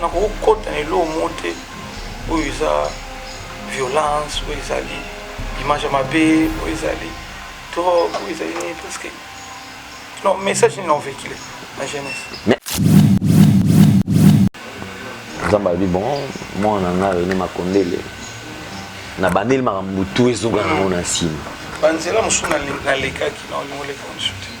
nakokota na eloko moko te oyo eza violence oyo ezali image ya mabe oyo ezali drogue oyo ezali nini parce que non message nini naovekile na jeunesse nzambe alobi bon mwana na ngai rene makondele na bandeli makambo tu ezonga nango na nsima banzela mosusu nalekaki na olingo oleka mosusu te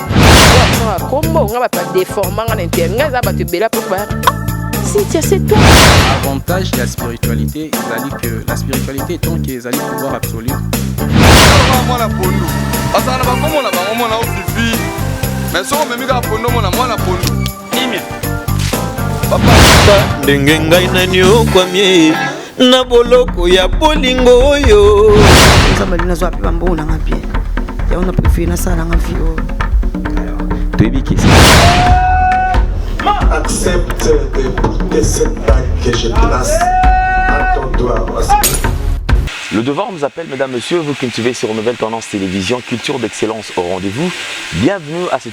kombo nga bato badeforma nga na internet nga eza bato ebela mpo ba Cynthia, c'est toi. Avantage de la spiritualité, ezali que la spiritualité tant que ezali pouvoir absolu. mwana pondu azala na bakomona bango mona ofifi mais soki omemi kaka pondu omona mwana pondu papa ndenge ngai naniokwamie na boloko ya bolingo oyo nzambe ali nazwa mpe bambongo nanga mpe yango na prefere nasala nanga vi oyo toyebi kesi accepte de goûter cette bague que je place à ton doigt Le devoir nous appelle, mesdames, messieurs, vous cultivez sur Nouvelle Tendance Télévision, culture d'excellence au rendez-vous. Bienvenue à cette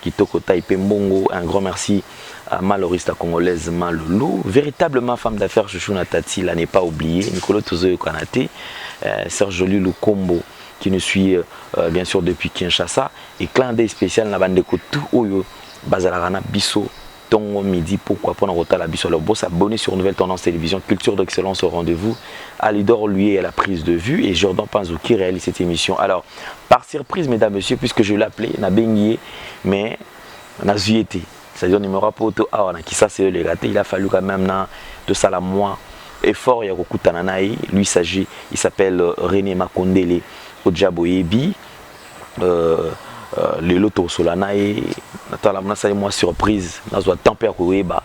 Kitoko taille pe mbongo un grand merci à ma Loris la congolaise ma loulou véritablement femme d'affaires chouchou na tati la n'est pas oublier mikolo tozo yokana te euh, sœur Jolie Lukombo qui nous suit euh, euh, bien sûr depuis Kinshasa et clin d'œil spécial na bandeko tout oyo bazalaka na biso Tongo midi pokwa pona kotala biso alors bo s'abonner sur Nouvelle Tendance Television Culture d'excellence au rendez-vous Alidor Luye à la prise de vue et Jordan Panzu qui réalise cette émission alors par surprise mesdames messieurs puisque je l'appelais na bengi ye mais nazwi ye te c'est-à-dire numéro ya poto awa na Kisasa eleka te il a fallu quand même na tosala mwa effort ya kokutana na ye lui s'agit il s'appelle René Makondele oja boyebi Euh, Euh, lelo tokosola na ye natala nasali mwa surprise nazwa temps mpe ya koyeba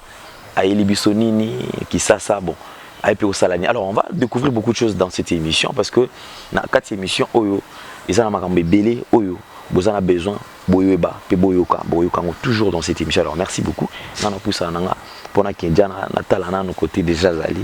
ayeli biso nini kisasa bon aye mpe kosala nini alors on va découvrir beaucoup de choses dans cette émission parce que na kati émission oyo eza na makambo ebele oyo boza na besoin boyeba mpe boyoka boyoka yango toujours dans cette émission alors merci beaucoup nga napusana na nga mpo nakendya natala nano côté déjà azali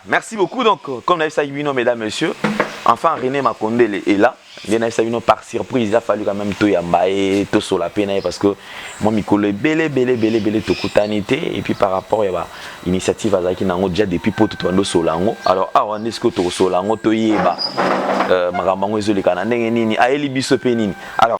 Merci beaucoup donc comme nayebisaki bino mesdames messieurs enfin René Makondele est là nde nayebisa bino par surprise il a fallu quand même toyamba ye tosola mpe na ye parce que mwa mikolo ebele ebele ebele ebele tokutani te et puis par rapport ya ba initiative azalaki na yango déjà depuis poto tobandi osola yango alors awa nde sikoyo tokosola yango toyeba euh, makambo yango ezoleka na ndenge nini ayeli biso mpe nini alors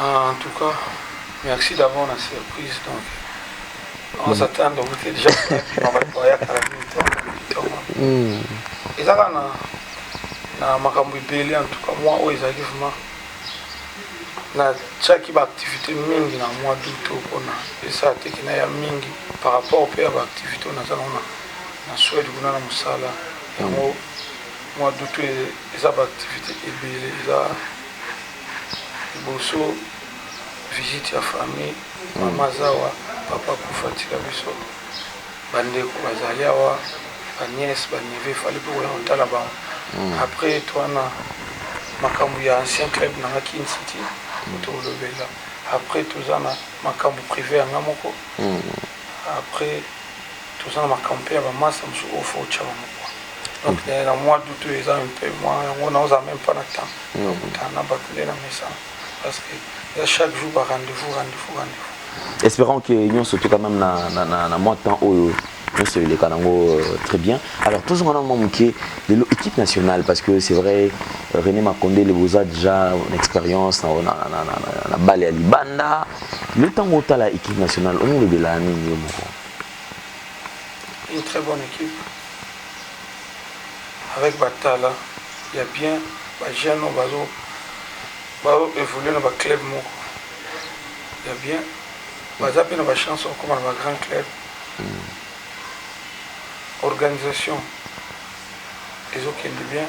Ah en tout cas merci d'abord na surprise donc on mm. s'attend au goûter déjà na ba toya kala ni to to mm eza kana na makambo ebele en tout cas moi oyo ezalaki vraiment natiaki baactivité mingi na mois d'août oyo mpona esala teke na ya mingi par rapport mpe ya baactivité oyo naza nango na swede kuna na mosala yango mois d'août eza baactivité ebele eza liboso visite ya famille mama zawa papa kufa tika biso bandeko bazali awa baniese banieve efali mpe koya kotala bango hmm. après eto wana makambo ya ancien club na nga kin city hmm. tokolobela après toza na makambo privé ya nga moko hmm. après Toza na makambo pe ya ba masta mususu oyo faut otia bango quoi donc na na mois d'aout oyo eza un peu mua yango na oza meme pas na temps ya kokutana na batu nde na mesana parce que eza chaque jour ba rendez-vous rendez-vous rendez-vous espérant que nyonso tout quand même na na na, na mois temps oyo nyonso eleka nango euh, très bien alors tozonga na mwa moke lelo équipe nationale parce que c'est vrai euh, rené makonde le boza déjà na expérience na, na, na, na, na, na bale ya libanda lelo ntango otala équipe nationale omolobelaa nini yo moko une très bonne équipe avec batala ya bien bajeune oyo bazo bao évolue na baclub moko ya bien baza mpe na bachance okoma na bagrand club mm. organisation ezokende bien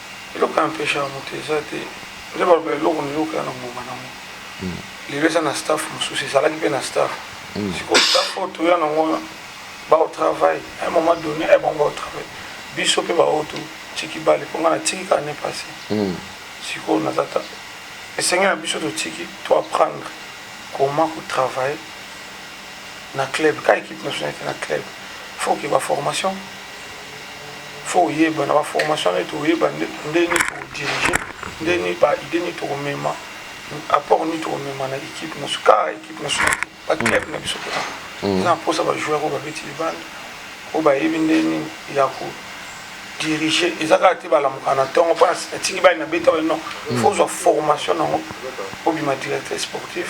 Eloko e empechaka moto eza te. Nde baloba eloko na eloko eza na ngonga na yango. Lelo eza na staff mosusu, ezalaki mpe na staff. Sikoyo staff oyo toya na yango wana bao travail à un moment donné eh bango bao travail biso mpe baoyo totiki bale mpo ngai natiki kaka ne passé sikoyo naza ta esenge na biso totiki to apprendre comment kotravaille na club ka ekipe nationale te na club faut ke baformation faut oyeba na ba formation neti oyeba ndenge toko dirige ndenge ba idée nini tokomema apport nini tokomema na équipe na suka équipe na suka ba club na biso kuna mm. na mposa ba joueur oyo babeti libanda oyo bayebi ndenge nini ya ko dirige eza kaka te balamuka na ntongo mpo natiki bani na beta bani non mm. faut ozwa formation nango obima directeur sportif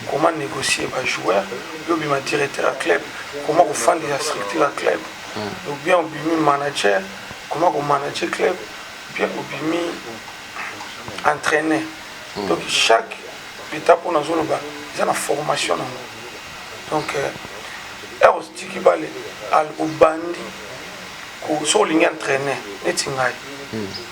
comment negocier ba joueurs yo obima directeur ya club comment kofandisa structure ya club ou bien obimi manager comment ko manager club ou bien obimi entraîner donc chaque étape oyo nazoloba eza na formation nango donc heure otiki bale obandi soki olingi entraîner neti ngai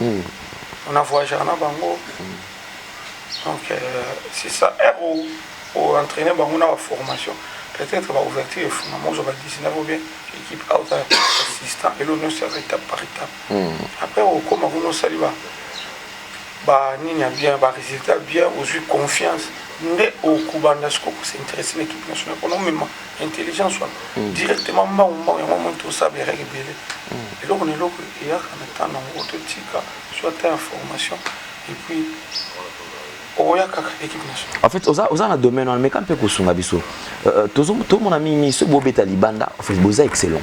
On a voyagaka na bango donc c'est ça heure o o entraîner bango na ba formation peut-être ba ouverture efungama ozwa ba 19 ou bien équipe auta assistant elo nyonso yaka étape par étape après okoma kuna osali ba ba nini ya bien ba résultat bien ozwi confiance nde okobanda sikoyo kosinteresse na équipe nationale mpona omema intelligence wana mm. directement mbangu mbangu yango moni tosaba erreur ebele mm. eloko na eloko eyaka na temps na yango totika soit ta information et puis okoya kaka équipe nationale en fait oza, oza na domaine wana meka mpe kosunga biso euh, euh, tomona mingi mingi soki bobeta libanda en fait boza excellent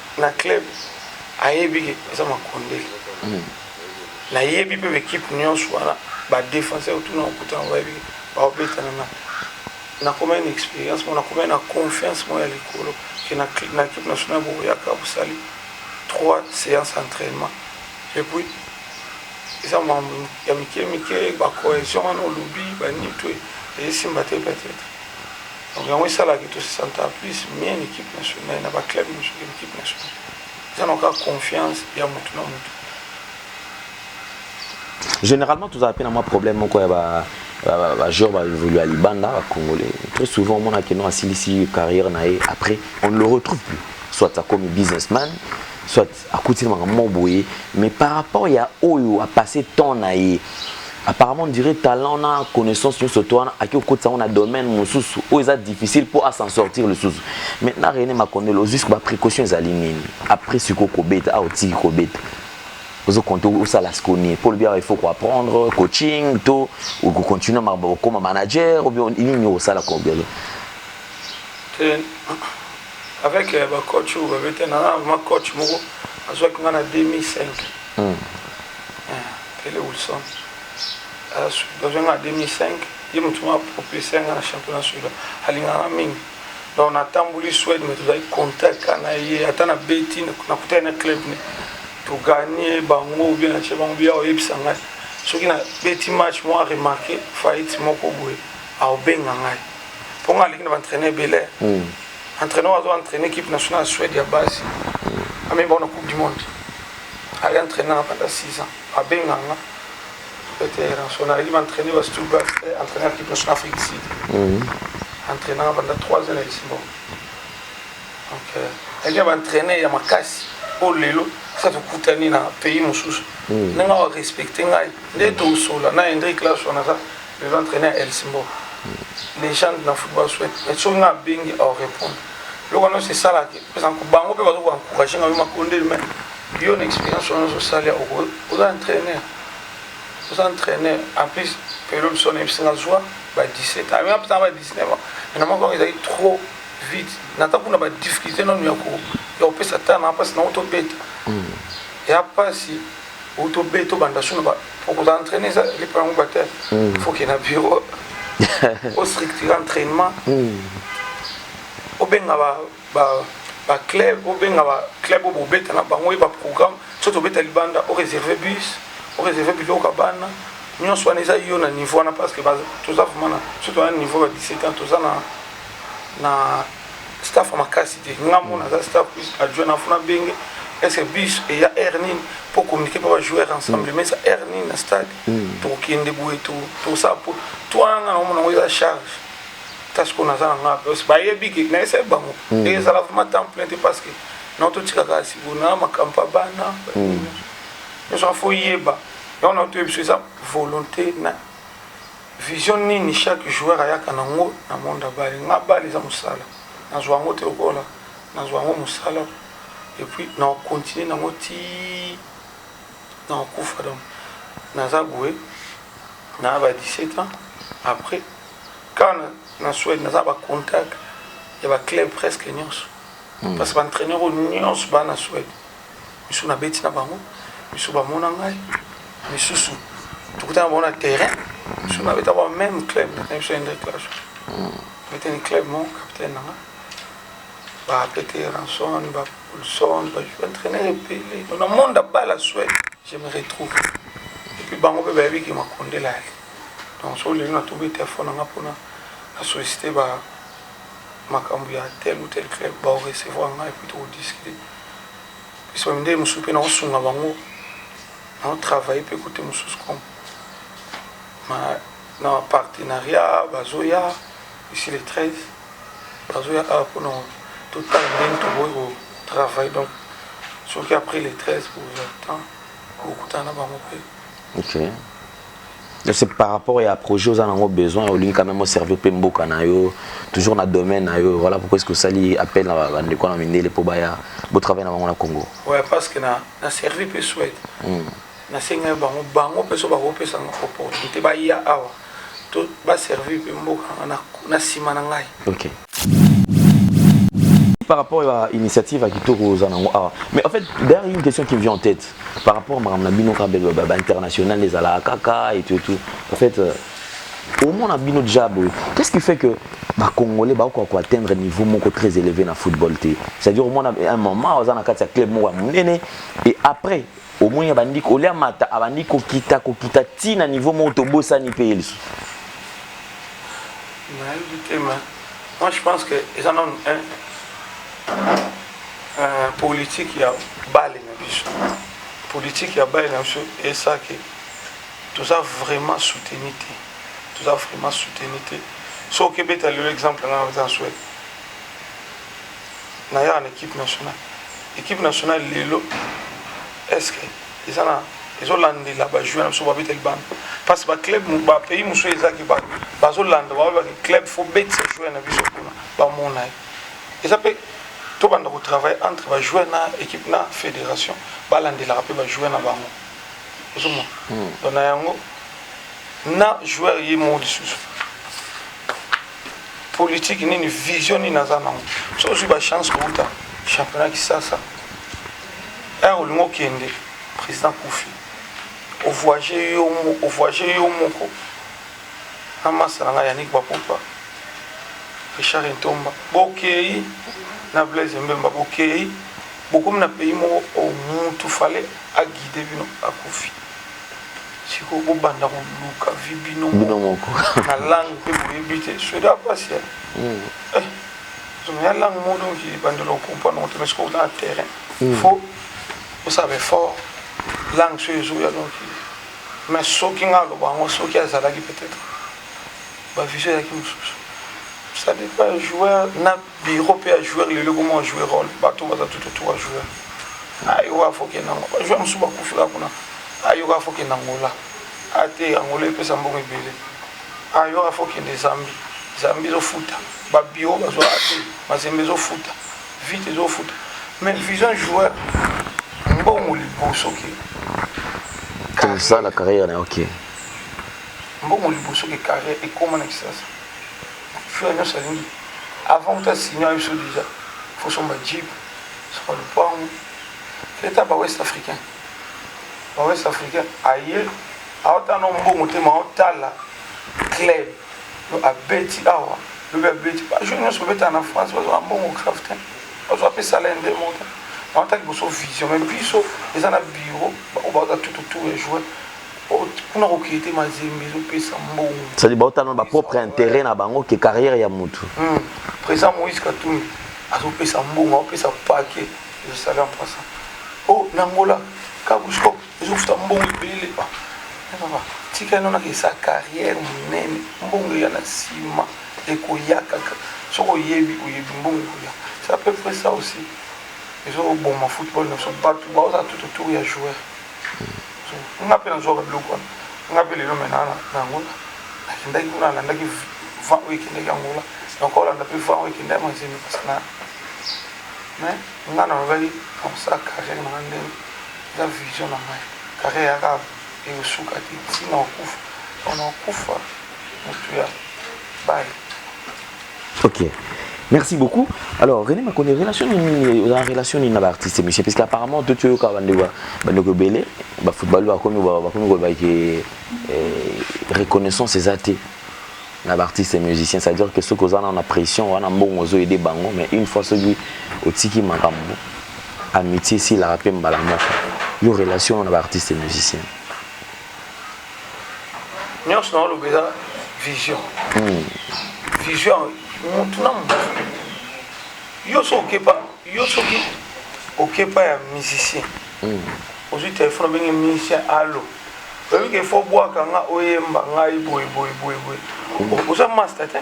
na club ayebi ke eza makondeli nayebi mpe baekipe nyonso wana badefenseur otuna okuta yango bayebi baobetana na nakomai na experience mo nakomai na confiance mo ya likolo ke na ekipe national bokoyaka bosali 3 séance entraînement epuis eza mwa ya mike mike bacohesion wana olobi banito esimba te peut-être Donc yango esala ke to se senta plus mieux na equipe nationale na ba club mosusu ke na equipe nationale. Eza na kaka confiance ya mutu na mutu. Généralement tozala pe na mwa problème moko ya ba bajoueur baevolu ya libanda bacongolais très souvent omonake no asilisi carrière na ye après on ne le retrouve plus soit akomi businessman soit akuti na makambo moko boye mais par rapport ya oyo a passe temps na ye apparemment on dirait talent na connaissance nyonso to wana ake kokotisa yango na domaine mosusu oyo eza difficile mpo a s'en sortir lisusu mais na Rene Makonde lozisko ba précaution ezali nini après siko kobeta awa otiki kobeta ozo compte osala siko nini mpo olobi awa il faut ko apprendre coaching to okocontinue makambo okoma manager obio nini osala kobelo avec euh, ba coach oyo babeta na vraiment coach moko azwaki nga na 2005 mm. tele eh, wilson azwaki nga na 2005 ye motu ma propulse nga na championnat suda alingaka mingi donc natamboli swede me tozali contact na ye ata na beti nakutaki na club ne toganie bango bien natie bango bia oyebisa ngai soki na beti match mwa remarke faillite moko boye aobenga ngai mpo nga aleki na baentraîneur ebele entraîneur oyo azo entraîne équipe nationale ya suède ya basi amemi bango na coupe du monde aye entraîne nanga pendant 6 ans abenga nga ete ranson aleki baentraîne ba stuba entraîneur équipe nationale afrique du sud entraîne nanga pendant 3 ans na lisbon donc aleki na baentraîne ya makasi oyo lelo sa tokutani na pays mosusu ndenge awa respecte ngai nde tosola na hendrik laso naza Les entraîneurs El Simbo, légende na football souhaite, mais soki nga bengi au répondre. Loko non c'est ça là, parce que bango pe bazo encourager nga ma konde mais yo na expérience on a sali au aux entraîneurs. Aux entraîneurs en plus période son episode na joie ba 17 ans, même après ba 19 ans, na moko ils étaient trop vite. Na ta kuna ba difficulté non yako, yo pesa tana parce que na auto bête. Il y a pas si ou to be to banda suna ba poko za entraîner za lipa yango ba te faut que na bureau au structure entraînement au benga ba ba ba club au benga ba club au bobeta na bango ba programme so to beta libanda au réserver bus au réserver biloko ya bana nyonso wana eza yo na niveau wana parce que toza vraiment na so toza na niveau ya 17 ans toza na na staff ya makasi te nga mo naza staff plus adjoint na funa benge est-ce que bus eya heure nini mpo communiquer mpe bajoueur ensemble mais eza heure nini na stade tokokende boye tosala mpo to wana nga naomona yango eza charge ta sikoyo naza na nga plus bayebi ke nayesaye bango ezala vraiment temps plein te parce que nao totikaka sikoyo na makambo ya bana nyonso afo yeba yango nao toyebi so eza volonté na Vision nini chaque joueur ayaka na ngo na monde ya balle? Nga balle eza musala nazua yango te lokola nazua yango musala et puis nako continuer na ngo ti nako kufa donc naza boye na ba 17 ans après quand na Suède naza ba contact ya ba club presque nionso parce que ba entraîneur oyo nionso ba na Suède Misusu na beti na bango, misusu ba mona ngai, misusu tokutana bango na terrain, misusu na beta ba même club na biso Hendrik Clash. Beta ni club mon capitaine na nga. Ba pete Ranson, ba Olson, ba joueur entraîneur epele. Na monde à bas la Suède, je me retrouve. Et puis bango pe ba yebi ki makonde la ali. Donc so lelo na tobi téléphone na nga pona na solliciter ba makambo ya tel ou tel club ba recevoir nga et puis to discuter. Pesa ba mindele mosusu pe nao sunga bango nao travailler pe cote mosusu comme ma na partenariat bazoya ici le 13 bazoya awa pona totala ndenge tokoki ko travailler donc soki après le 13 pour le temps bokutana na bango pe Okay. c'est par rapport ya projet oza nango besoin olingi quand même oservir mpe mboka na yo toujours na domaine na yo voilà pourquoi eske osali appel na bandeko na mindele mpo baya botravaille na bango na congo ouais, parce que na, na servi mpe swede mm. nasengai bango bango mpe so bakopesa nga opportunité baya awa to baservir mpe mboka na nsima na ngai okay. par rapport à l'initiative à Kitoko Zanango awa mais en fait d'ailleurs une question qui me vient en tête par rapport à makambo na bino kaka bebe ba international ezalaka kaka et tout et tout en fait euh, au moins na bino déjà boye qu'est-ce qui fait que ba congolais bakoka ko atteindre niveau moko très élevé na football te c'est-à-dire au moins na un moment oza na kati ya club moko ya monene et après omoni abandi kolia amata abandi kokita kokita ti na niveau moko tobosani mpe ye lisusu nayebi te ma moi je pense que eza nanu politike ya bale na biso politike ya bale na biso esaki toza vraiment soutenu te toza vraiment soutenu te soki obeta lelo exemple nga eza na swede na yaka na equipe nationale equipe nationale lelo est-ce que eza na ezolandela bajoueur na biso babeta libanda parce que baclub bapays mosusu ezaki bazolanda baolobaki club fo betisa joueur na biso kuna bamona ye eza mpe tobanda kotravaille entre bajoueur na équipe na fédération balandelaka mpe bajoueur na bango ozomona hmm. don na yango na joueur ye moko lisusu politique nini vision nini aza nango so ozwi ba chance kouta championnat kisasa ere eh, olingi okende président kufi ovoyage yo ovoyage yo moko na masa na ngai yanik bapopa richard entomba bokei na blaise mbemba bokei bokomi na pays moko o oh, mutu fale aguide bino akufi sikoyo bobanda koluka vi bino bino moko na langue mpe boyebi te soda mpasi ya zoma ya langue moko donc ebandela okomprendre moto mais sikoyo na terrain fo osala baeffort langue soyo ezoya donc mais soki ngai aloba yango soki azalaki peut-être bavision ezalaki mosusu ça dépend joueur na Biro pe ya joueur lelo ekoma ba jouer role bato baza tout autour ya joueur ayo kaka faut kende yango ba joueur mosusu bakufi kaka kuna ayo kaka faut kende Angola ate Angola epesa mbongo ebele ayo kaka faut kende Zambie Zambie ezofuta ba biro bazwa ate mazembe ezofuta vite ezofuta mais vision joueur mbongo liboso ke kosala carrière na yo ke mbongo liboso ke carrière ekoma na kisasa Fula nionso alingi avant kuta signer na biso dejà faut somba jeep somba lupangu leta ba west africain ba west africain aye aotala na mbongo te maotala club yo abeti awa lobi abeti bajour nyonso obetaka na france bazwaka mbongo grave te bazwa mpe salaire nde monta maotala liboso vision mai biso eza na bureau baoyo baoza tout autour ya joueur kuna kokeye te mazembe ezopesa mbongo sadi baotana ba propre intérêt na bango ke carrière ya mutu hmm. président moïse katumbi azopesa mbongo aopesa pake ezosali en passant o oh, na ngola kabusko ezofuta mbongo ebele ah, tika ino nakesa carrière monene mbongo eya na nsima ekoya kaka soki oyebi oyebi mbongo ekoya c'est à peu près ça aussi ezoboma football na biso bato baoza tout autour ya joueur nga mpe nazwaka biloko wana nga mpe lelo mena na angola nakendaki kuna alandaki vent oyo ekendaki angola donc olanda mpe vent oyo ekendaki mazembe pasana mais nga nalobaki nakosala carrière nanga ndenge eza vision na ngai carrière yaka ekosuka te ntina okufa ona okufa mutu ya baye ok merci beaucoup alors rené makoni relation nini oza relation nini na baartiste monsieur parce que apparemment to toyoka bandeko bandeko ebele bafootball bakomi bakomi koloba ke eh, reconnaissance eza te na baartiste musicien c'est à dire que soki oza nao na pression wana mbongo ozo aide bango mais une fois soki otiki makambo amitié esilaka mpe mbala moko yo relation na baartiste musicien nyonso na oloba eza vision hmm. vision motu na motu yo so okepa yo soki okepa ya musicien hmm. ozwi telefone obenge musicien alo oyebi ke fo bwaka nga oyemba ngai boye boye boye boye hmm. oza master te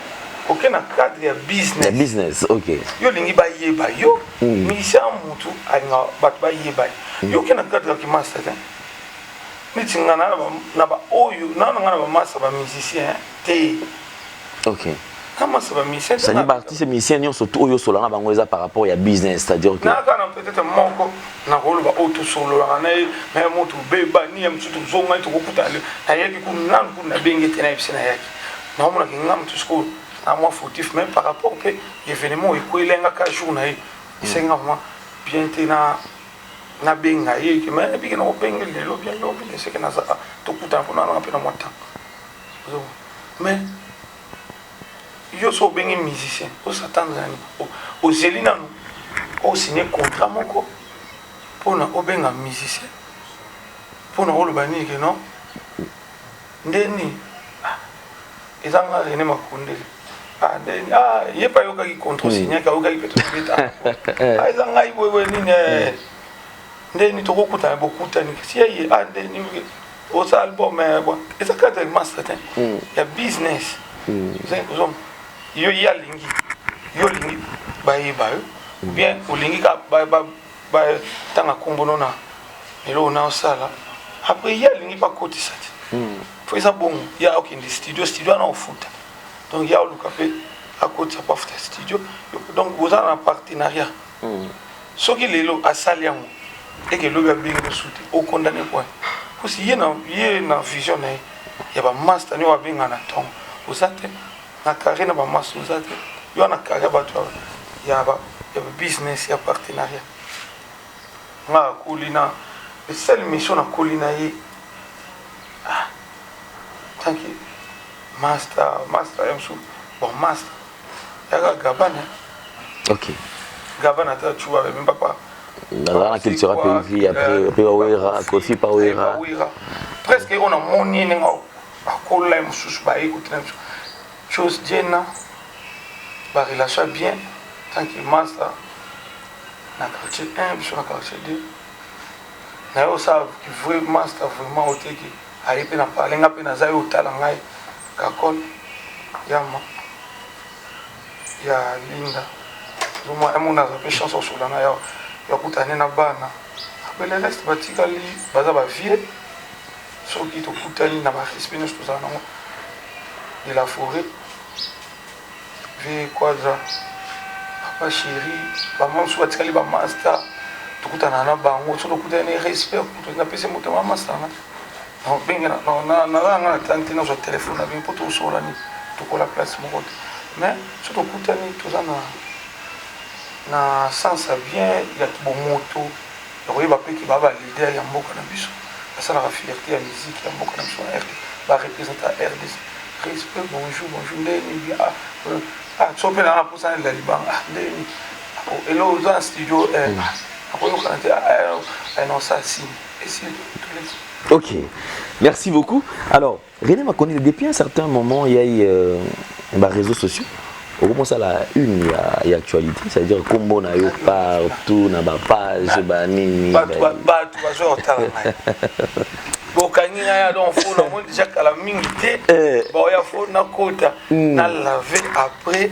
oke na cadre ya business business ok yo olingi bayeba yo musicien motu alinga bato bayeba yo oke na cadre ya kimaster te neti nga na ba na ba oyo na nga na ba masa ba musiciens te OK na masa ba musiciens c'est dire ba artistes musiciens nyonso tout oyo solo na bango eza par rapport ya business c'est à dire que na kana peut-être moko na ko loba oyo to solo la na ye mais mo to be ba ni am tout zo ngai to ko kuta le na ye ku na ku na benge te na yebisi na yaki na omona ki ngam tout school na moi fautif mais par rapport pe événement ekwele nga ka jour na ye isenga moi bien te na Na benga ye ke mais bike na obenge lelo bien lobi ne seke na za ah, to kuta ko na na pe na mwa temps zo mais yo so obenge musicien o s'attendre na ni o zeli na no o signer contrat moko pona obenga musicien pona oloba nini ke non Nde nini? Ah, eza nga Rene Makundele. Ah, nde nini? Ah, ye pa yokaki contre hmm. signac, ayokaki pe tobeta. Ah, eza ngai boye boye nini? Eh. Hmm. Nde nini tokokutana bokutani kasi ye ye ah nde nini osa album eh bon eza kaka ya master te hmm. ya business. Ozali kozoma yo ye alingi yo olingi bayeba yo bien olingi ka ba tanga kombo no na eloko na osala après ye alingi ba kotisa te faut eza bongo ya okende studio studio wana ofuta donc ya oluka pe akotisa po afuta studio donc boza na partenariat soki lelo asali yango eke lobi abengi mosusu te okondane point parce ye na ye na vision na ye ya ba master nio abenga na tongo oza te na carré na ba maso oza te yo na carré ya bato ya ba business ya partenariat nga akoli na le seul mission nakoli na ye ah, tanki master master ya mosusu bon master yaka gabana ok gabana ata cuba bebe papa nazala na cultura mpe vi après mpe wawera kofi pa wera presque oyo namoni ndenge Ba kola ye mususu baye ko tinda biso chose diena ba relation ya bien tant que masta na quartier 1 biso na quartier 2 na yo sa ki vrai masta vraiment oteki aye pe na parle nga pe naza yo otala ngai kakol yama ya linda zoma emo naza pe chance osola na yo ya kutane na bana abele reste batikali baza ba vieux Soki tokutani na ba respect nionso tozala nango de la foret vie quadra papa chéri bango mosusu batikali ba masta tokutana na bango soki tokutani na respect kutu napesi moto ma masta nga nabengela nazala nga na tani te nazwa telefone na bino mpo tosola nini tokola place moko te mais soki tokutani toza na na sens ya bien ya kibomoto ya koyeba pe ke ba ba leader ya mboka na biso basalaka fierte ya musique ya mboka na biso na rdc ba representa rdc respect bonjour bonjour ndenge nini bien ah euh, ah so pe nanga posa nalela libanga ah ndenge nini ah, oh, elo oza na studio eh, mm. ah, nakoyokana te ah, eh, non ça signe esili toleki ok merci beaucoup alors René Makonile, depuis un certain moment, il y a eu euh, bah, réseaux sociaux. On commence à la une, il y a, il y a actualité. C'est-à-dire, comme on a eu partout, na ba page, ba nini. Bah, bah, bah, tu vas jouer au talent. bokangi ngai ado mfo namoni déjà kala mingi te baoya fo nakota na lave après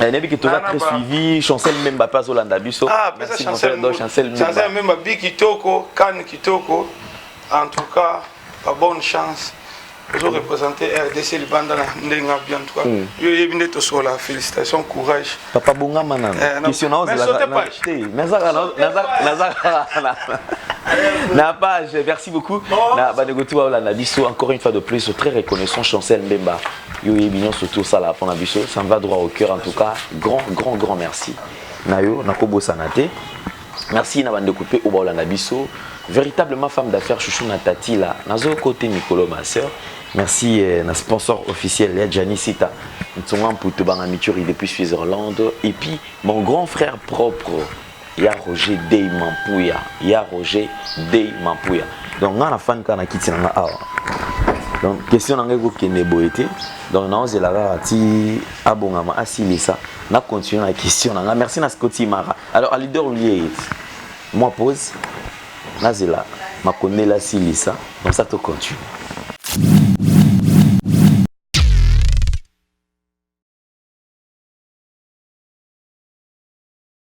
Eh, nayebi ke toza très suivi chancel memba mpe azolanda biso ah, chancel memba bi kitoko kane kitoko en tout cas ba bonne chance ozo représente rdc libanda na ndenge abi en tout cas hmm. yo oyebi nde tosola félicitation courage papa bongama nano eh, question naozelazaka na page merci beaucoup na bandeko ti baolanda biso encore une fois de plus très reconnaissant chancel mbemba yo oyebi nyonso tu osalaka mpo na biso ça me va droit au cœur en tout cas grand grand grand merci na yo nakobosana te merci na bandeko mpe oyo baolanda biso véritablement femme d'affaires chouchou na tati la nazo kote mikolo ma sœur merci eh, na sponsor officiel ya Gianni Sita Ntsonga Mputu Banga Mituri depuis Switzerland et puis mon grand frère propre Ya Roger Dey Mampuya, Ya Roger Dey Mampuya. Donc nga na fan kaka na kiti na nga awa. Donc question na nga ekokende boye te. Donc naozela kaka ti abongama asilisa na continuer na question na nga. Merci na Scotty Mara. Alors à leader liye moi pause nazela makondela asilisa comme ça to continue.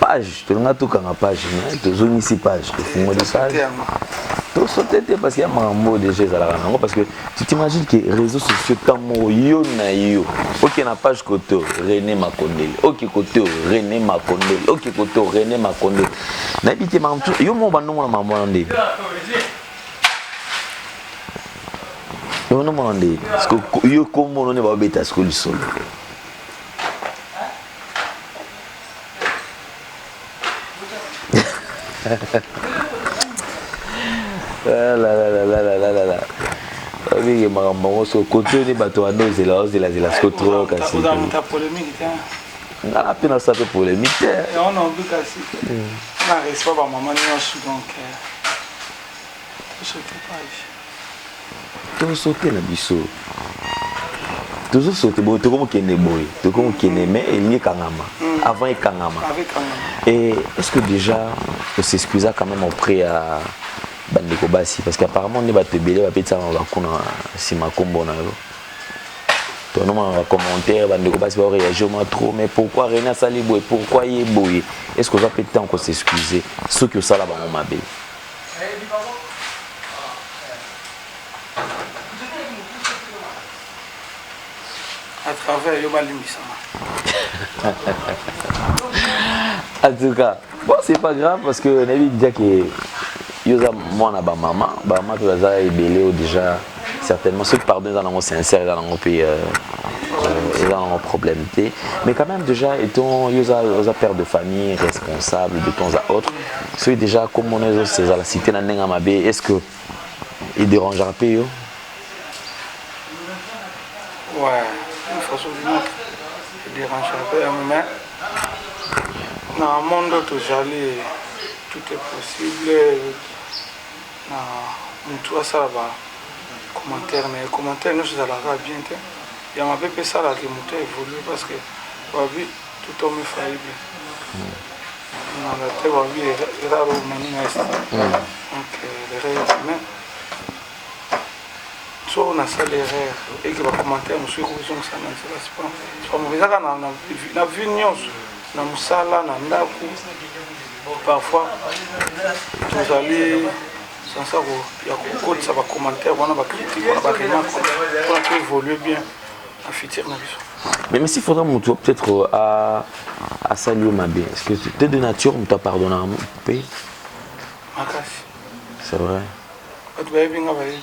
page tolinga tokanga page mais tozongisi page tofungoli page tosote te parce que ya makambo oyo déjà ezalaka nango parce que tu t'imagine que réseau sociaux temps moko yo na yo oke na page kote oyo rené makondele oke kote oyo rené makondele oke kote oyo rené makondele nayebi te makambo tu yo moko bandongo na makambo wana nde onomona nde yo kombo ono nde baobeta siko lisolo olingi makambo yango so kontoni bato wana ozela ozelazela siko tro kasi nga mpe nasala mpe polémique te tozosote na biso tozosote boye tokomi kende boye tokomi kende mais elingi ekangama mm. avant ekangama et est ce que déjà osexcusa quand même auprès ya bandeko basi parce que apparemment nde bato ebele bapetisama bakuna nsima nkombo na yo tonomaka bacommentaire bandeko basi baoreagir ma trop mais pourquoi rena asali boye pourquoi ye boye est ce que oza mpe temps kosexcuse soki osala bango mabe à travers yo balimbisama en tout cas bon c'est pas grave parce que nayebi déjà que yo oza mwana bamama bamama mpe baza ebele oyo déjà certainement ce pardon eza nango sincère eza nango mpe euh, euh, eza nango problème te mais quand même déjà étant yo oza père de famille responsable de temps à autre soki déjà komona ezala cité na ndenge ya mabe est ce que edérangera mpe yo ouais façon moko edérangera mpe yango mais na monde tozali tout est possible Na mutu asala ba commentaire naye commentaire nionso ezalaka kaka bien te ya mabe pe esalaka que mutu a evoluer parce que balobi tout homme est faillible na la terre balobi erraro humanina est donc l'erreur est humaine so nasali erreur eke ba commentaire mosusu ekozongisa na nzela c'est pas mauvais eza kaka na vie nionso na mosala na ndako parfois tozali sansa ya kokotisa bacommentaire wana bacritique wana baremarque mpona to évolue bien na futur na biso mais mesi faudra moto peut-être euh, asali yo mabe est ce que te de nature moto apardonnaka mpe makasi c'est vrai bato bayebi nga bayebi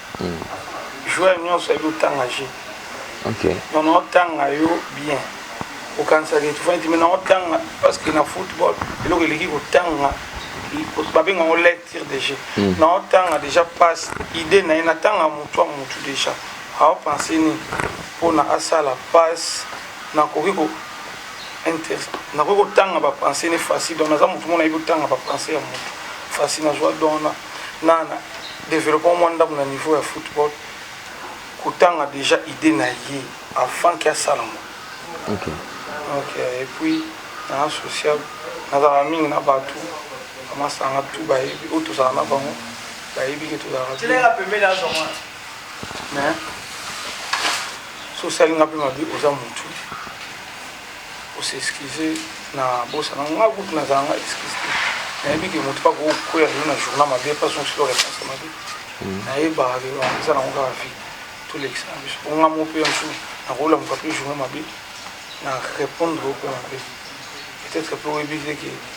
Joueur nionso ayebi kotanga jeu. Ok. Donc na otanga yo bien. Okanisaka etufani te mais na otanga parce que na football eloko eleki kotanga babenga yango lecture de jeu. Mm. Na otanga déjà passe idée na ye natanga motu ya motu déjà. Aopense nini mpona asala passe nakoki ko nakoki kotanga bapense ne facile donc naza motu mona ayebi kotanga bapense ya motu facile nazwa donc na nana developpement mwa ndambo na niveau ya football kotanga déjà idée na ye avant ke asala ngo okay. okay. et puis na social nazalaka mingi na bato bamasanga tu bayebi oyo tozala na bango bayebi ke tozalaka mais sosalinga mpe mabe oza motu Ko s'excuser na bosana yango nga kutu nazala nga excuse te nayebi ke moto pa ko kueya lelo na journal mabe pa zongisa yo reponse mabe nayebaka ke ba eza nango kaka vie tolekisa na biso po nga mo pe mosusu nakoyola moto ape journal mabe na repondre yo pe mabe peut-etre pe oyebi te ke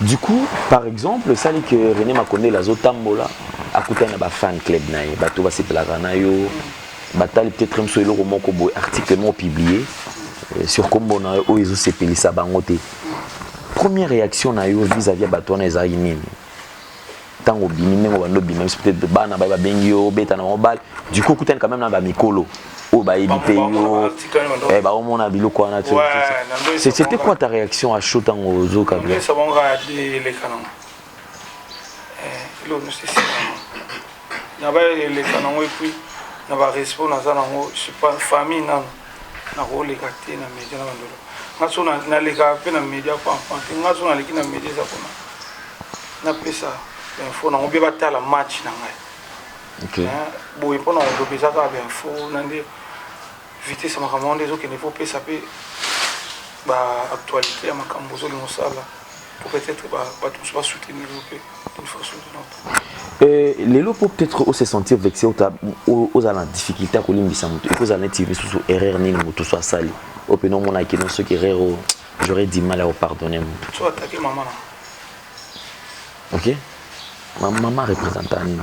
Du coup, par exemple, ça dit que René Makonde la zotambola akutana ba fan club na ye, bato basepelaka na yo, batali peut-être mso eloko moko boye article moko publié euh, sur kombo na yo oyo ezosepelisa bango te. Première réaction na yo vis-à-vis ya bato wana ezalaki nini? ntango obimi ndenge obanda obima biso peut-être bana baye babengi yo obeta na bango bale du coup okutani quand même na bamikolo oyo bayebi mpe yo eh, baomona biloko wana c'était quoi ta réaction à chaud ntango ozo kabila na baeleka nango epuis na barespect naza nango famille nano nakoleka te na media na bandolo nga so naleka mpe na media pampan te nga so naleki na media eza mpona napesa bainfo nango mpe batala match na ngai boye mpo na koloba eza kaka bainfo na nde vitesse ya makambo yango nde ezokende mpo opesa mpe baactualité ya makambo ozolinga osala Pour peut être ba bato mosusu ba soutenir yo mpe d'une façon ou d'une autre. Euh, lelo mpo peut-être ose sentir vexe ota ozala na difficulté ya kolimbisa moto eko ozala neti lisusu erreur nini moto so asali oyo mpena omona kino soki erreur oyo j'aurais du mal ya kopardonne moto so atake mama na ok mama représenta nini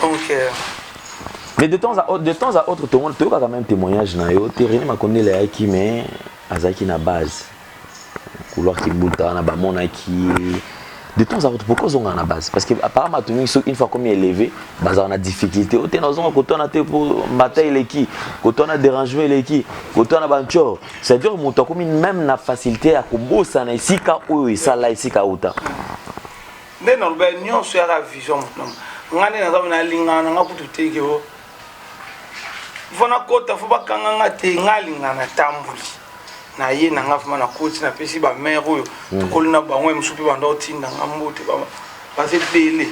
Donc, euh... Mais de temps à autre, de temps à autre, tout le monde, tu as quand même témoignage na yo. Tu René Makonde le qui mais azaki na base. Couloir qui bouta na ba mona qui de temps à autre pourquoi ils ont na base parce que apparemment tout le une fois comme élevé bah on a difficulté au tenor on quand on a été pour bataille les qui quand on a dérangé les qui quand on a banchor c'est à dire mon comme même la facilité à combo ça na ici ka ou ça là ici ka ou ta nde naloba nyonso yaka vision moto na moto nga nde naza na lingana na nga kutu teke o fo nakota fo bakanga nga te nga lingana natamboli na ye na nga vraimen nakoti napesi bamare oyo hmm. tokoli na bango ya mosusu mpe banda otinda nga mbote baza ebele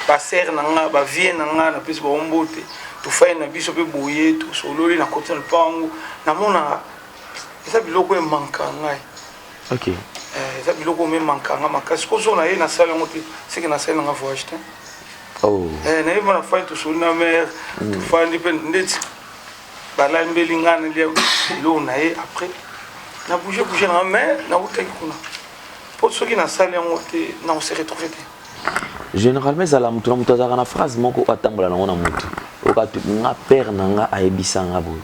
basere na nga bavie na nga napesi bango mbote tofai na biso mpe boye tosololi nakoti na lopango namonaka eza biloko emanka ngai ok eh, eza biloko me mankanga makasi kozwa na ye nasali yango te seke nasali nanga voyage te oh. eh, nayebi na fai tosoli na mare mm. tofandi mpe ndeti balambeli ngai nalia biloko na ye après na bouge bouge nanga mais nautaki kuna mpo soki nasali yango te nakose retrouve te généralement ezala moto na moto azalaka na phrase moko oyo atambola nango na motu oka nga père na nga ayebisa nga boye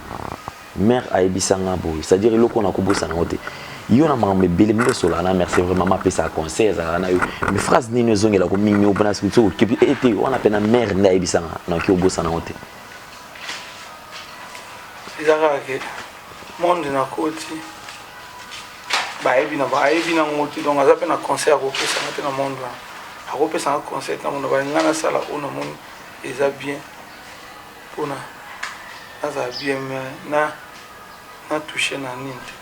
Mère ayebisa nga boye, c'est à dire eloko na kobosana ngo te. Yo na makambo ebele mbe sola na merci vraiment mama pesa conseil ezala na yo. Mais phrase nini ezongela ko mingi obana siku tso kipi et te wana pena mère nda ayebisa nga na ki obosana ngo te. Ezaka ke monde na koti bayebi na bayebi na ngo te donc aza pe na conseil ya kopesa nga te na monde wana. Akopesa nga conseil na mona ba nga na sala ona moni eza bien. pona nazala bien mais na na touche na nini te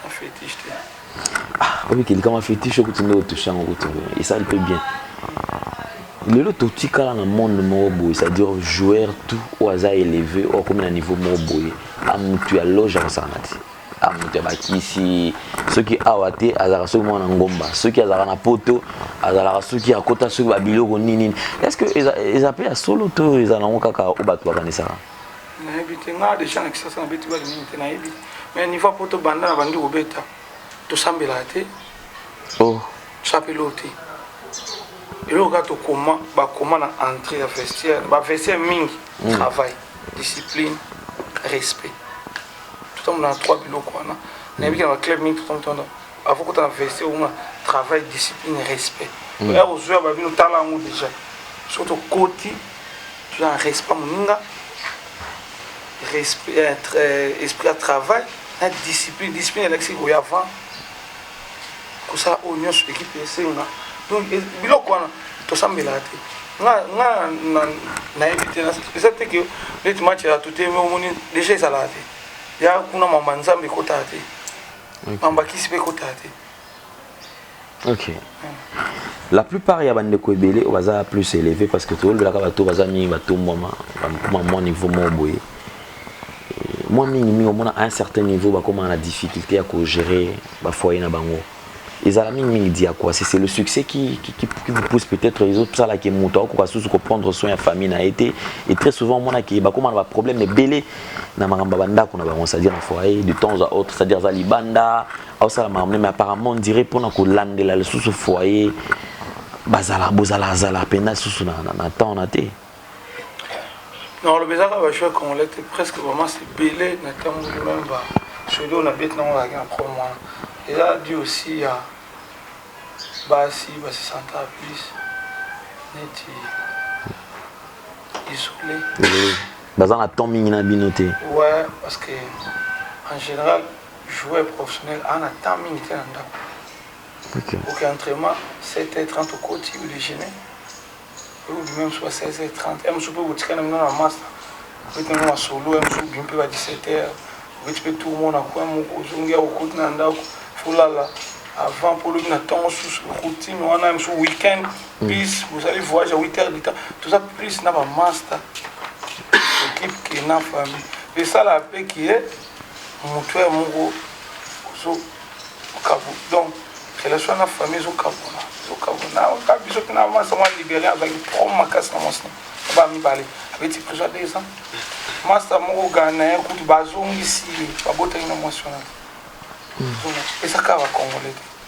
na fetiche te ah, oyoki likama fetiche okuti nde otouche yango okuti esali mpe bien lelo totikala na monde moko boye c'est-à-dire joueur tout oyo aza éleve oyo akomi na niveau moko boye amutu ya loge akosangana te ah, moto ya bakisi soki awa te azalaka soki mwana ngomba soki azalaka na poto azalaka soki akota soki babiloko nini nini est ce que eza mpe ya solo to eza nango kaka oyo bato bakanisaka nayebi te nga deja na kisasa nabeti bale mingi te nayebi mais niveau ya poto banda na bandi kobeta tosambelaka te oh. chapelo te eloko kaka tokoma bakoma na entrée ya vestiaire bavestiaire mingi mm. travail discipline respect totambola na trois biloko wana nayebi ke na baclub mingi totambola avant kota na vc omona travail discipline respect hmm. ya kozwa babino tala yango déjà soki tokoti toza na respect moninga euh, euh, esprit ya travail na discipline discipline elakisi koya avant kosala oyo nyonso ekipe esenga donc biloko wana tosambelaka te nga nga nayebi te eza te ke neti match ya tute omoni deja ezalaka te ya kuna mamba nzambe ekotaka te mamba kisi mpe ekotaka te ok la plupart ya bandeko ebele oyo baza plus élevé parce que tolobelaka bato baza mingi batombwama bamwa niveau moko boye mwa mingi mingi omona à un certain niveau bakomaka na difficulté ya kogérer bafoye na bango ezala mingi mingi diakuasi c'est le succès qui, qui, qui, qui vous pousse peut-être ezosala ke moto akokoka susu koprendre soin ya famille na ye te et très souvent omonaki bakoma na baproblème ebele na makambo ya bandako na bango c'est-à-dire na foyer de temps à autre c'est-à-dire aza libanda aosala makambo mais apparemment on dirait mpona kolandela lisusu foyer bazala bozalazala mpenza lisusu na temps na te na oloba eza kaka bajoueur congolais te presque bamasi ebele na ntango meme ba soli oyo na beti nango azalaki na prom wana eza di aussi ya basi basisanta plus neti isole baza na temps mingi na bino te ouais parce que en général joueur professionnel ana temps mingi te na ndako okay. ok entraînement 7 h 30 okoti ou déjeuner Oyo bima ya mosusu ba 16 heures 30 ya mosusu mpe okotikala na bino na masta obeti nango masolo ya mosusu obimi mpe ba 17 heures obeti mpe tour moko na coin moko ozongi awa okoti na ndako folala avant mpo olobi na ntongo susu routine wana ya mosusu week-end plus bozali voyage ya 8 heures du temps toza plus na ba masta ekipe ke na famille esalaka mpe ke mutuelle moko ozo kabu donc relation na famille ezo kabuna ezo kabuna ka biso pina masa mwa libérien azalaki prom makasi na mwasi ba mibale abeti prison deux ans masta moko ganayen kutu bazongisi ye babotaki na mwasi wana ezaka bakongole te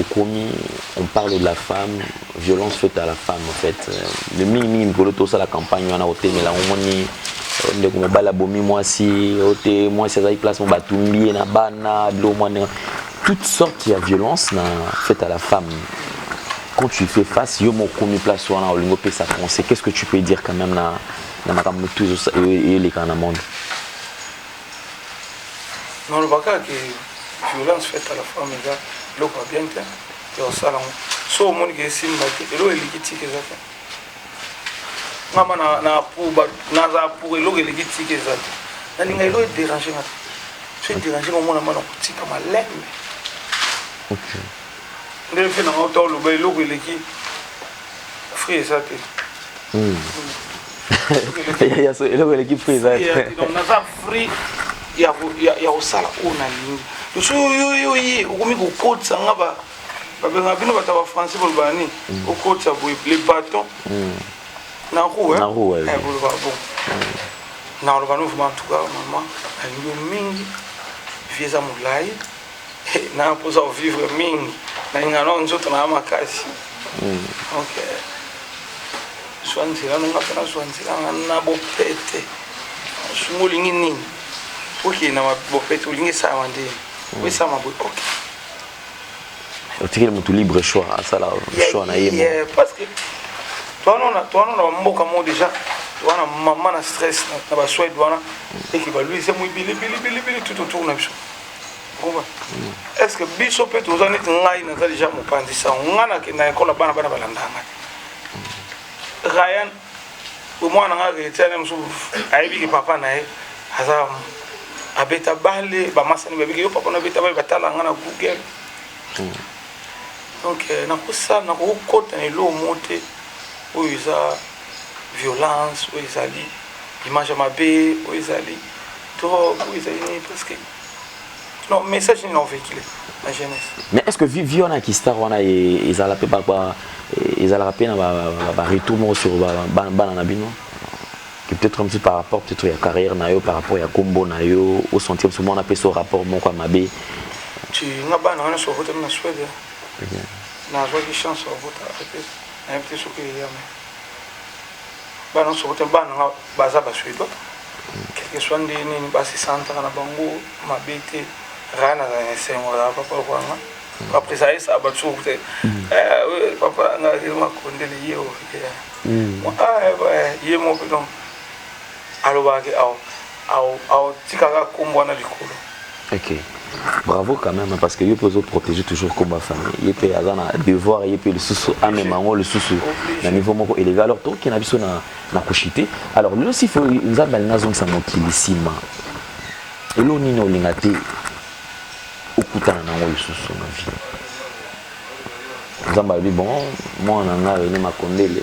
okomi on parle de la femme violence faite à la femme en fait mais mingi mingi mikolo tosala campagne wana kotemela omoni euh, ndeko mobali abomi mwasi ote mwasi azali place mo batumbi ye na bana bilo mwa ndenge toute sorte ya violence na faite à la femme quand tu fais face yo moko okomi place wana olingi opesa conseil qu'est ce que tu peux dire quand même na na makambo motu eyolekana na monde naloba kaka ke violence faite à la femme eza eloko ya bien te te osala yango so omoni ke esimba te eloko eliki tika eza te ngama nazala pour eloko eliki tika eza te nalinga eloko ederange nga te so ederange nga omona mwana kotika malembe ndenge mpe nanga ota oloba eloko eleki fruit eza te eloko eleki fruit eza naza fruit ya kosala oyo nalingi loso yo ye okomi kokotisa nga babengaka bino bato ya bafrançais bolobaka nini mm. okotisa boye le baton mm. na roue eh, boloba bon mm. nakoloba no vraimen en tout cas mama nalingi yo mingi vie eza molai na mposa ko vivre mingi na ingano nzoto na makasi hmm. donc zwa nzela nanga mpe nazwa nzela nga na bopete sunga olingi nini okende na bopete olingi esalama nde hmm. oesalama boye ok otikeli motu libre choix asala choix na ye parce que towana na bamboka moko déjà towana mama na stress na basuede wana eke baluise moi bilibilibilibili tout autour na biso est ce que biso mpe toza neti ngai naza deja mopanzi sango ngai nakenda ekola bana bana balandaka ngai ryan omwana ngai akeletiane mosusu ayebi ke papa na ye aza abeta bale bamasani babiki yo papa na abeta bale batala ngai na google hmm. donc euh, nakosala nakokota na eloo mo te oyo eza violence oyo ezali image ya mabe oyo ezali Mais est-ce que vie wana ki star wana ezala pe ba ezalaka pe na ba ba retour moko sur bana na bino que peut-être comme si par rapport peut-être ya carrière na yo par rapport ya kombo na yo au sentir souvent na pe so rapport moko mabe tu nga bana wana so hota na Suède na zo ki chance au hota na pe so ke ya mais bana soko te bana nga baza ba suédois quelque soit nde nini basi santaka na bango mabe te raa na na esengo ya papa lokola nga après ça esa ba soko te eh papa nga ke makondele ye o ye mo pe donc alobaka ke awa aotikaka kombo wana likolo ok bravo quand même parce que yo mpe ozoprotege toujours komba famille ye mpe aza na devoir ye mpe lisusu amema yango lisusu na niveau moko élevé alors toke na biso na kushite alors lelo sifo nzambe alingi azongisa mokili nsima elo nini olinga te okutana na yango lisusu na vie nzambe alobi bon mwana na ngai rene makondele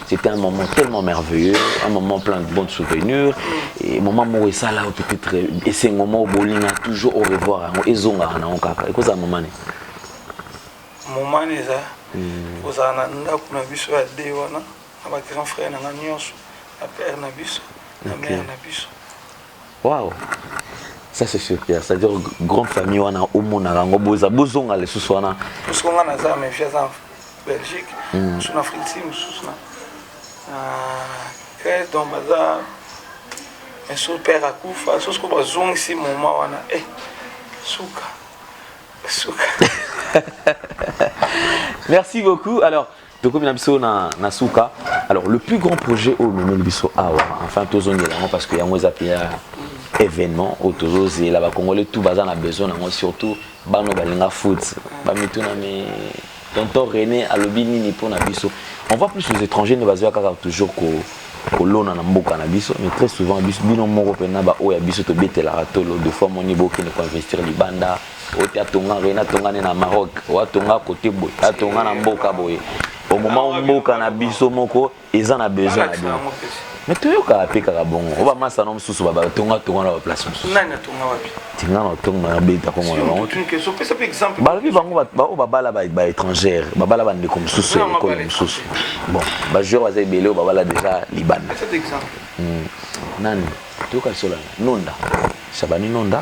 C'était un moment tellement merveilleux, un moment plein de bons souvenirs. Et moment moko esala yo peut-être esengo moko bolinga toujours au revoir yango ezongaka nango kaka ekozala moment nini moment nini eza hmm. kozala na ndako na biso ya de wana na bagrand frère na nga nyonso na père na biso na mare na biso Waouh ça c'est sûr que ça dire grande famille wana omonaka yango boza bozonga lisusu wana soko nga naza mais fia aza belgique hmm. mosusu na afrique si mosusu na grèce donc baza so père akufa so soko bazongisi moma wana e eh, suka suka merci beaucoup alors tokomi na biso na, na suka alors le plus grand projet oyo omemeli biso awa enfin tozongela yango parce que yango eza mpenza événement oyo tozozela bacongolais tout baza na besoin nango surtout bana oyo balinga foot bamituna me tonton rené alobi nini mpo na biso on voit plus les étrangers nde bazoya kaka toujours ko kolona na mboka na biso mais très souvent biso bino moko mpe na baoyo ya biso tobetelaka tolo de fois moni bokende koinvestir libanda oyo te atonga rien atonga nde na maroc oyo atonga kote boye atonga na mboka boye au moment où mboka na biso moko eza na besoin na bino mais toyokaka mpe kaka bongo oyo bamasano mosusu batonga tonga na baplace mosusu tinga na otonga na beta kongo na bango balobi bango baoyo babala baétrangère babala bandeko mosusu ya ekolo mosusu bon bajoueur baza ebele oyo babala déjà libanda hmm. nani toyoka lisolana nonda sabani nonda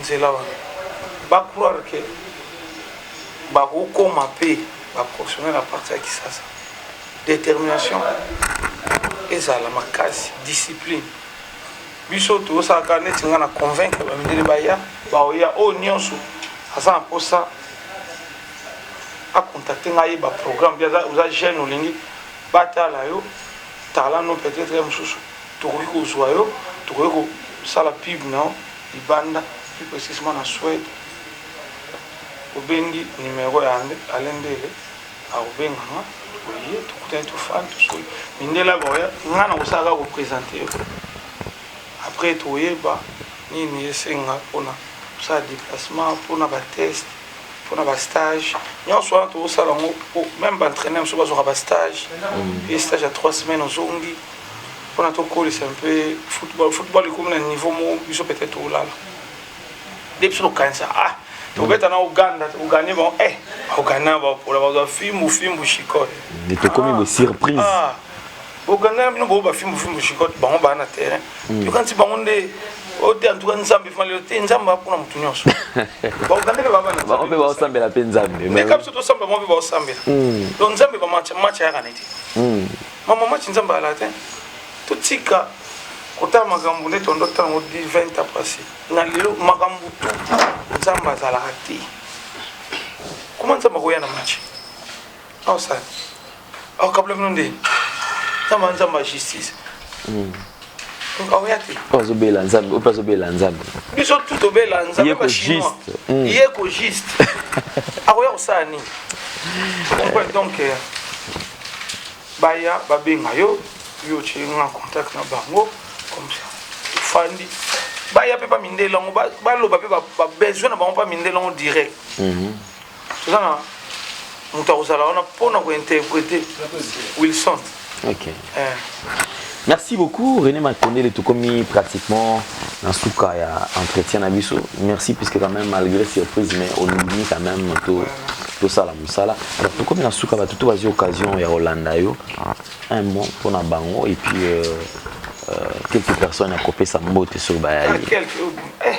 nzela wana ba croire que bakokoma mpe baprofessionnel na parti ya kisasa détermination ezala makasi discipline biso tosalaka neti ngai na convaincre bamindele baya baoya oyo oh, nyonso aza na mposa akontakte ngai ayeba programme oza jeune olingi batala yo talano peut-être ya mosusu Tokoki kozua yo, tokoki ko sala pub na yo libanda, plus precisement na Suède. Obengi numero ya Alain Ndele, ako benga nga, toye, tokutani, tofandi, tosoli. Mindele aba oya, nga nako sala kaka ko presenter yo. Après eko yeba nini esenga pona kosala deplacement, pona ba tests, pona ba stages. Nionso wana toko sala yango po meme ba entraineurs mosusu bazuaka ba stages, ye stage ya trois semaines ozongi. pona tokolisa mpe football football ekomi na niveau moko biso peut-être tolala nde biso tokanisa ah tobeta na Ouganda tokoganye bango eh Ouganda bapola bazwa fimbu fimbu shikote nde tokomi ah, bosurprise ah, boganga na bino boyo bafimbu fimbu shikote bango baa na terrain hmm. yokanisi bango nde oyo te antuka nzambe fima lelo te nzambe apona motu nyonso baogande mpe babango mpe baosambela mpe nzambe ndeka biso tosambela bango mpe baosambela hmm. donc nzambe bamatch ayaka na ete Ma maman ci nzambe ala te totika kotala makambo nde tondo tala ngo 20 ans passé na lelo makambo tu nzambe azalaka te koma nzambe akoya na match aosala aokabla bino nde nzambe nzambe ya justice mm. oya te oyo azobela nzambe oyo mpe azobela nzambe biso tu tobela nzambe bachinois hmm. ye ko juste akoya kosala nini comprendre donc euh, baya babenga yo yo otie nga contact na bango comme ça tofandi baya mpe bamindela yango baloba mpe babesoin na bango mpe bamindela yango direct mhm. toza na moto akozala wana mpo na kointerprete wilson okay. eh. merci beaucoup rené matondele tokomi pratiquement na suka ya entretien na biso merci puisque quand même malgré surprise mais olingini quand même to tosala mosala alors tokomi na suka bato to bazwi occasion ya kolanda yo un mot mpo na bango et puis euh, euh, quelques personnes ya kopesa mbote soki bayali ah, eh,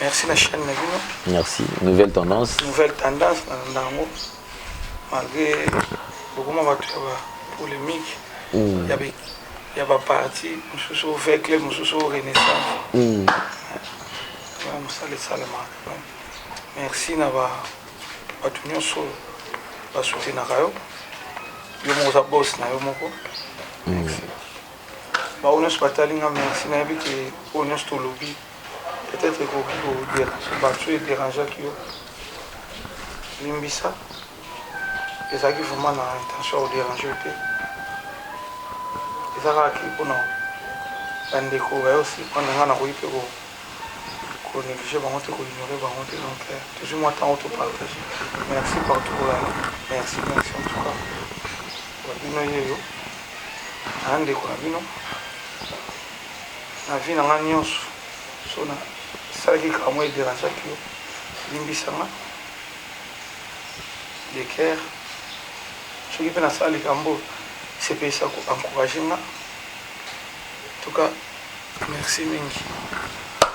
Merci na chaîne na bino. Merci. Nouvelle tendance. Nouvelle tendance na ndango. Malgré bokoma bato ya ba polemique mm. ya be ya ba parti mosusu o vert club mosusu o renaissance. Mm. Ya mosala esalemaka. Merci na ba bato nyonso basutenaka yo yo moko oza bos na yo moko mm. baoyo nyonso batali nga merci nayebi ke oyo nyonso tolobi Peut etre ekoki ko deranger batu soki e derangeaki yo limbisa, ezalaki vraiment na intention ya ko deranger yo te, eza kaka ke pona bandeko baye osi pona nga nakoki mpe ko ko negliger bango te ko ignorer bango te donc euh, tozwi mwa ntango to partage merci partout kolanda merci merci en tout cas babino yeyo na ndeko na bino na vie na nga nionso soki na salaki likambo moko e derangeaki yo limbisa nga de coeur soki pe na sala likambo oyo esepelisa ko encourager nga en tout cas merci mingi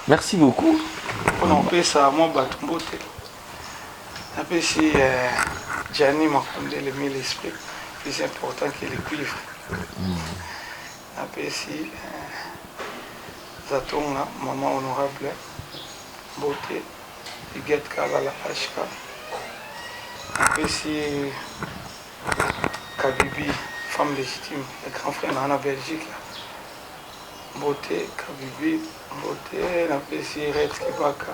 merci beaucoup pona kopesa mwa bato mbote napesi eh, Gianni Makundele mille esprit plus important que le cuivre mm. Napesi Zatonga maman honorable mbote, Huguette Kalala HK. Napesi ye Kabibi femme legitime ya grand frère na na Belgique mbote, Kabibi mbote. Napesi ye Red Kibaka.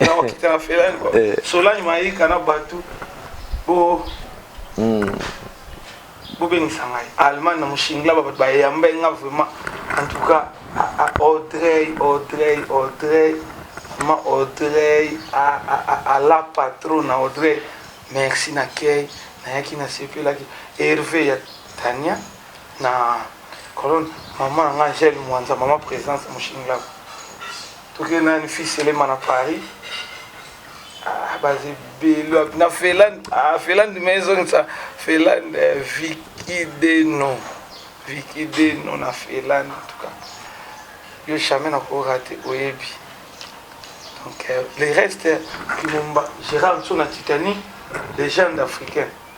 na wakita na felani kwa eh. solani mayika na batu bo hmm. bobengisa ngai allemagne na moshingla babato bayamba nga vraiment en tout cas audrey audrey audrey ma audrey ala patron na audrey merci na kei nayaki nasepelaki herve ya tania na colonne mama na nga angele mwanza mama présence moshingla Toke nani fils elema na Paris ah, baza ebele wapi na Finlande ah, Finlande me ezongisa Finlande eh, Vicky Deno Vicky Deno na Finlande en tout cas yo jamais nakorate oyebi donc euh, le reste kimomba Gérard Nso na Titanic légende africaine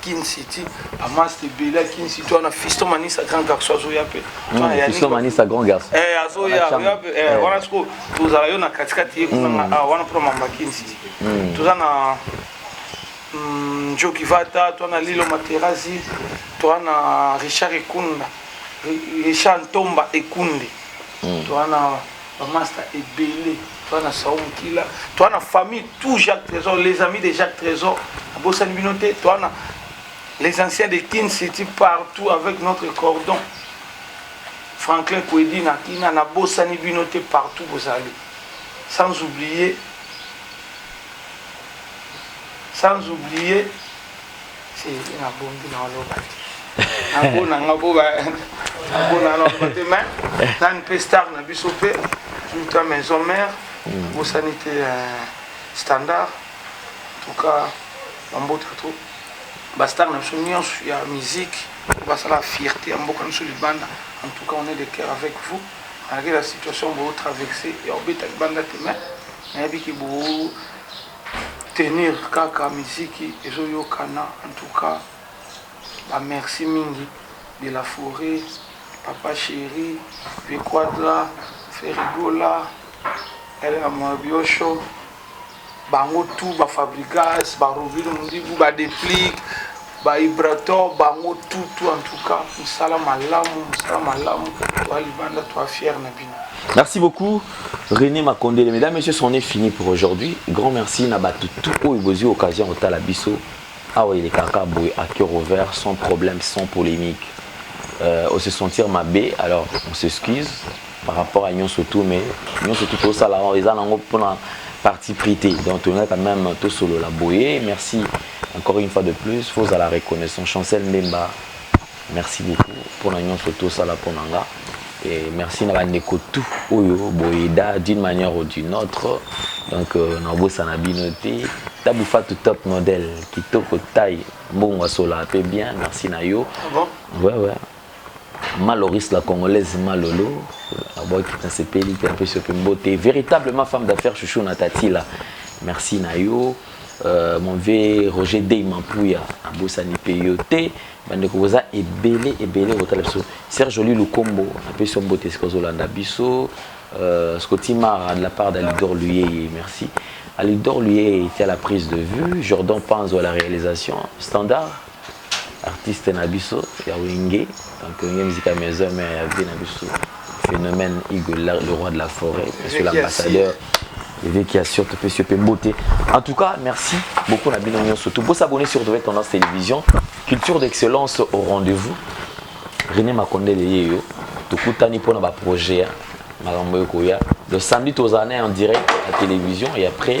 Kin City, à Mas de Bela, Kin City, on a Fiston Manissa, grand garçon, Azoya pe. Fiston Manissa, grand garçon. Eh, Azoya, eh, on a ce que tous à la Katikati, on a un problème à Kin City. Tous à la Joe Kivata, toi, on a Lilo Materazzi, toi, on a Richard Ekunda, Richard Tomba Ekunde, toi, on a. Ba masta ebele toi na Sao Mukila, toi na famille tout Jacques Trésor, les amis de Jacques Trésor, abosani bino te, toi na les anciens de Kin City partout avec notre cordon. Franklin Kwedi na Kina na bosani bino te partout bozali. Sans oublier sans oublier Thierry na bombi na oloba te nabona nga bo nabona na oloba te mais nani mpe star na biso mpe tuta maison mère bosani te standard en tout cas bambota to bastar na biso nyonso ya musique basala fierté ya mboka biso libanda en tout cas on est de cœur avec vous malgré la situation botraverse ya obeta libanda te mais nayebi ke bo tenir kaka miziki ezo yokana en tout cas ba merci mingi de la foret, papa cheri, vieux quadra, ferre gola, Elga Mwabiyosho bango tout ba fabrigas ba robino mundibu ba deplick Ba vibrator bango tout tout en tout cas musala malamu musala malamu ba libanda toi fier na bino. Merci beaucoup René Makondele. Mesdames, Messieurs, c'en est fini pour aujourd'hui. Grand merci na batu tout oyo bozui occasion otala biso. Awa il est kaka boye à cœur ouvert, sans problème, sans polémique. Euh, on se sentir mabé, alors on s'excuse. par rapport à nyonso tout mais nyonso tout tosala yango eza nango mpona parti pris te donc tolinga quand même tosolola boye merci encore une fois de plus faut ozala reconnaissant chancel mbemba merci beaucoup mpona nyonso tosala mpo na nga et merci na bandeko tout oyo boyeda d'une manière ou d'une autre donc euh, nabosana bino te tabu fatu top modèle kitoko taille mbongo asola mpe bien merci na yo ah bon? ouais, ouais. Maloris la congolaise Malolo abwaki ah, nasepeli mpe napesi mpe mbote véritablement femme d'affaires chouchou na tatila merci na yo euh, mon vieux Roger Dey Mampuya abosani mpe yo te bandeko boza ebele ebele kotala biso Serge Oli Lukombo napesi yo mbote esika ozolanda biso euh, Scotty Mara de la part d'Alidor Luyeye merci Alidor Luyeye était à la prise de vue Jordan Panzo à la réalisation Standard Artiste na biso ya wenge donc wenge musique ya maison mère ya vie na biso phénomène Igo le roi de la forêt monsieur l'ambassadeur Eveki ya sur topesi yo mpe mbote en tout cas merci beaucoup na bino nyonso tout bo s'abonner sur Retrouver Tendance Télévision culture d'excellence au rendez-vous René Makondele ye yo tokutani mpo na ba projet ya makambo ekoya le samedi tozala na en direct ya télévision et après